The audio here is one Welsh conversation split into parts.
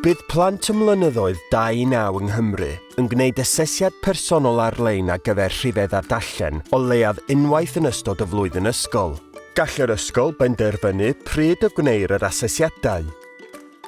Bydd plant ym mlynyddoedd 2 i 9 yng Nghymru yn gwneud asesiad personol ar-lein ar gyfer rhifedd ar dallen o leiaf unwaith yn ystod y flwyddyn ysgol. Gall yr ysgol benderfynu pryd y gwneir yr asesiadau.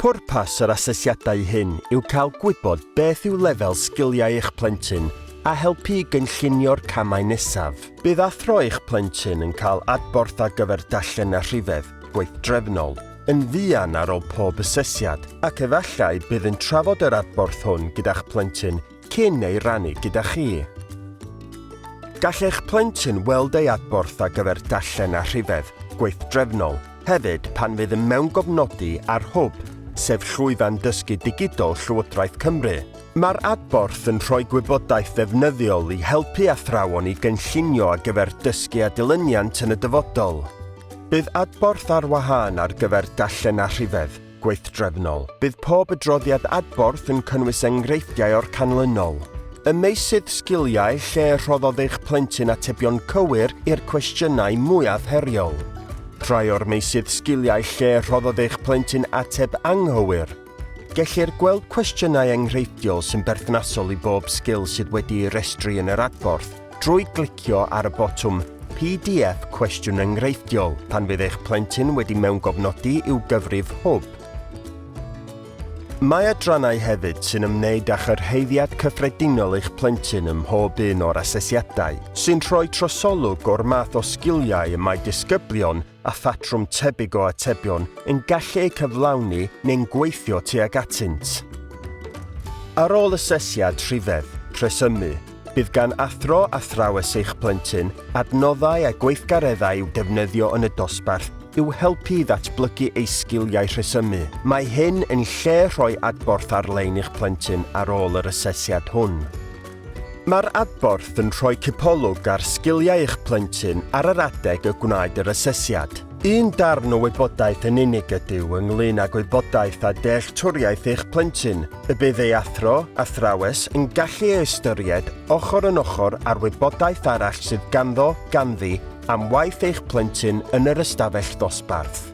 Pwrpas yr asesiadau hyn yw cael gwybod beth yw lefel sgiliau eich plentyn a helpu i gynllunio'r camau nesaf. Bydd athro eich plentyn yn cael adborth ar gyfer dallen a rhifedd gweithdrefnol, yn fuan ar ôl pob asesiad, ac efallai bydd yn trafod yr adborth hwn gyda'ch plentyn cyn ei rannu gyda chi. Gall eich plentyn weld ei adborth ar gyfer darllen a rhifedd gweithdrefnol hefyd pan fydd yn mewngofnodi ar Hwb, sef llwyfan dysgu digidol Llywodraeth Cymru. Mae'r adborth yn rhoi gwybodaeth ddefnyddiol i helpu athrawon i gynllunio ar gyfer dysgu a dilyniant yn y dyfodol. Bydd adborth ar wahân ar gyfer darllen a rhifedd, gweithdrefnol. Bydd pob adroddiad adborth yn cynnwys enghreifftiau o'r canlynol. Y meysydd sgiliau lle rhoddodd eich plentyn atebion cywir i'r cwestiynau mwyaf heriol. Rhai o'r meysydd sgiliau lle rhoddodd eich plentyn ateb anghywir. Gellir gweld cwestiynau enghreifftiol sy'n berthnasol i bob sgil sydd wedi'i restru yn yr adborth drwy glicio ar y botwm PDF Cwestiwn Enghreifftiol pan fydd eich plentyn wedi mewngofnodi i'w gyfrif hwb. Mae adrannau hefyd sy'n ymwneud â chyrhaeddiad cyffredinol eich plentyn ym mhob un o'r asesiadau, sy'n rhoi trosolwg o'r math o sgiliau y mae disgyblion a phatrwm tebyg o atebion yn gallu eu cyflawni neu'n gweithio tuag atynt. Ar ôl asesiad rhifedd, rhesymu, bydd gan athro athrawes eich plentyn adnoddau a gweithgareddau i'w defnyddio yn y dosbarth i'w helpu i ddatblygu ei sgiliau rhesymu. Mae hyn yn lle rhoi adborth ar-lein i'ch plentyn ar ôl yr asesiad hwn. Mae'r adborth yn rhoi cipolwg ar sgiliau eich plentyn ar yr adeg y gwnaed yr asesiad. Un darn o wybodaeth yn unig ydyw ynglŷn â gwybodaeth a dealltwriaeth eich plentyn, y bydd ei athro, athrawes, yn gallu ei ystyried ochr yn ochr â'r wybodaeth arall sydd ganddo, ganddi, am waith eich plentyn yn yr ystafell ddosbarth.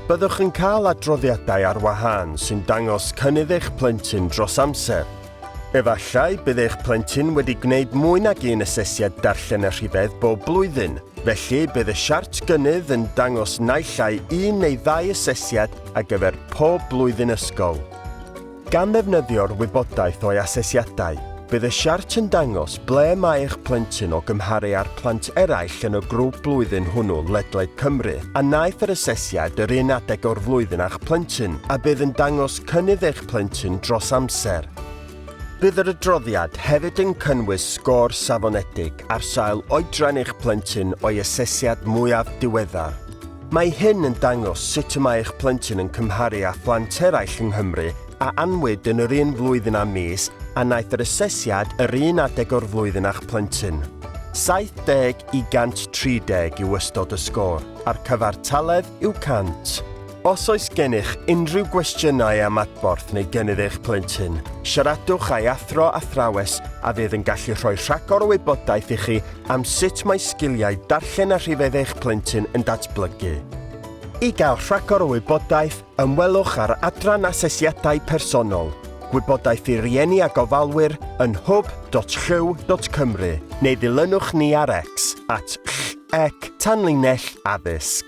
Byddwch yn cael adroddiadau ar wahân sy'n dangos cynnydd eich plentyn dros amser, Efallai bydd eich plentyn wedi gwneud mwy nag un asesiad darllen a rhifedd bob blwyddyn, felly bydd y siart gynnydd yn dangos naill ai un neu ddau asesiad ar gyfer pob blwyddyn ysgol. Gan ddefnyddio'r wybodaeth o'i asesiadau, bydd y siart yn dangos ble mae eich plentyn o gymharu â'r plant eraill yn y grŵp blwyddyn hwnnw ledled Cymru a wnaeth yr asesiad yr un adeg o'r flwyddyn â'ch plentyn a bydd yn dangos cynnydd eich plentyn dros amser. Bydd yr adroddiad hefyd yn cynnwys sgôr safonedig ar sail oedran eich plentyn o'i asesiad mwyaf diweddar. Mae hyn yn dangos sut y mae eich plentyn yn cymharu â phlant eraill yng Nghymru a anwyd yn yr un flwyddyn a mis a wnaeth yr asesiad yr un adeg o'r flwyddyn â'ch plentyn. 70 i 130 yw ystod y sgôr, a'r cyfartaledd yw 100. Os oes gennych unrhyw gwestiynau am adborth neu gynnydd eich plentyn, siaradwch â'i athro athrawes a fydd yn gallu rhoi rhagor o wybodaeth i chi am sut mae sgiliau darllen a rhifedd eich plentyn yn datblygu. I gael rhagor o wybodaeth, ymwelwch â'r adran Asesiadau Personol, Gwybodaeth i Rieni a Gofalwyr yn hwb.llyw.cymru neu ddilynwch ni ar X, at ll. ac tanlinell addysg.